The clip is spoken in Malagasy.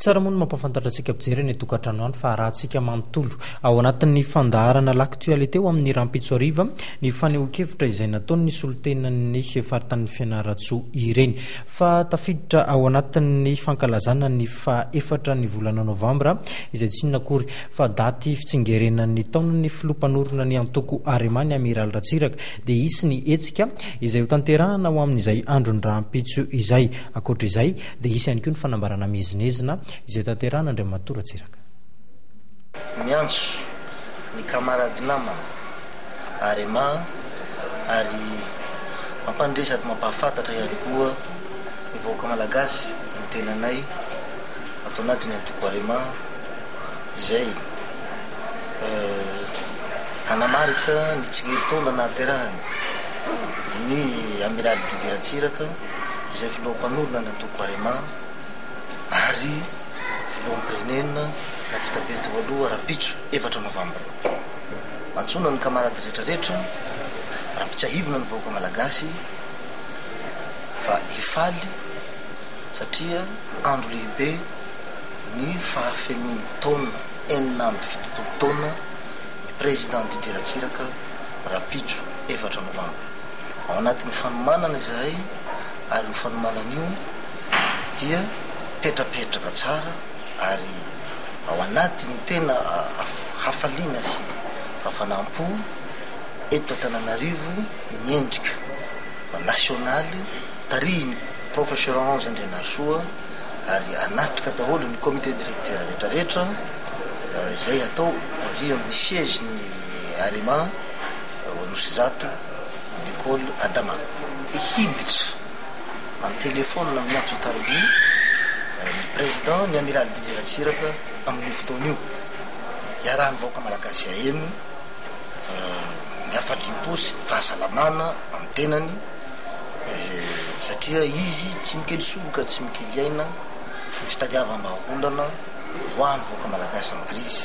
Tsara moa ny mampafantatra antsika mpijery any an-tokantrano any fa arahantsika manontolo ao anatin'ny fandaharana L'Actualité ho amin'ny rahampitso hariva ny fanehoan-kevitra izay nataon'ny solontenan'ny faritanin'i Fianarantsoa ireny fa tafiditra ao anatin'ny fankalazana ny faha efatra ny volana novambra izay tsy inona akory fa daty fitsingerenan'ny taonan'ny filoha mpanorina ny antoko Arema ny Amiraly Ratsiraka dia hisy ny hetsika izay hotanterahana ho amin'izay andron'ny rahampitso izay. Ankoatra izay, Dia hisy ihany koa ny fanambarana miezinezina izay tanterahan' Andriamatoa Ratsiraka. Miantso ny camarade namana Arema ary mampandre sady mampahafantatra ihany koa ny vahoaka malagasy ny tenanay ato anatiny Antoko Arema izay hanamarika ny tsingerintaona nahaterahany ny Amiraly Didy Ratsiraka. izay filoha mpanorina ny antoko Arema ary filoham-pirenena navita be teo aloha rahampitso efatra novambra. Antsoina ny kamarady rehetra rehetra ampitsiahivina ny vahoaka malagasy fa hifaly satria andro lehibe ny fahafenoany taona enina amby fitopolo taona ny Président Didier Ratsiraka rahampitso efatra novambra. Ao anatin'io fanomanana izahay ary io fanomanana io dia mipetrapetraka tsara ary ao anatin'ny tena hafaliana sy fahafanam-po eto Antananarivo ny endrika nasionaly tarihin'ny Professeur Henri Andrianarisoa ary hanatrika daholo ny Comité Directeur rehetrarehetra izay hatao aorian'ny siège-n'ny Arema. ao Anosizato, Lekôly Adama. Hiditra an-telefaonina amin'ny antso an-tarobia ny Prezidà, ny Amiraly Didier Ratsiraka amin'io fotoana io. Iarahan'ny vahoaka malagasy haheno ny hafaliam-po sy ny fahasalamana amin'ny tenany satria izy tsy mikely soroka, tsy mikely aina ny fitadiavam-bahaolana. Mivoaha ny vahoaka Malagasy amin'ny krizy.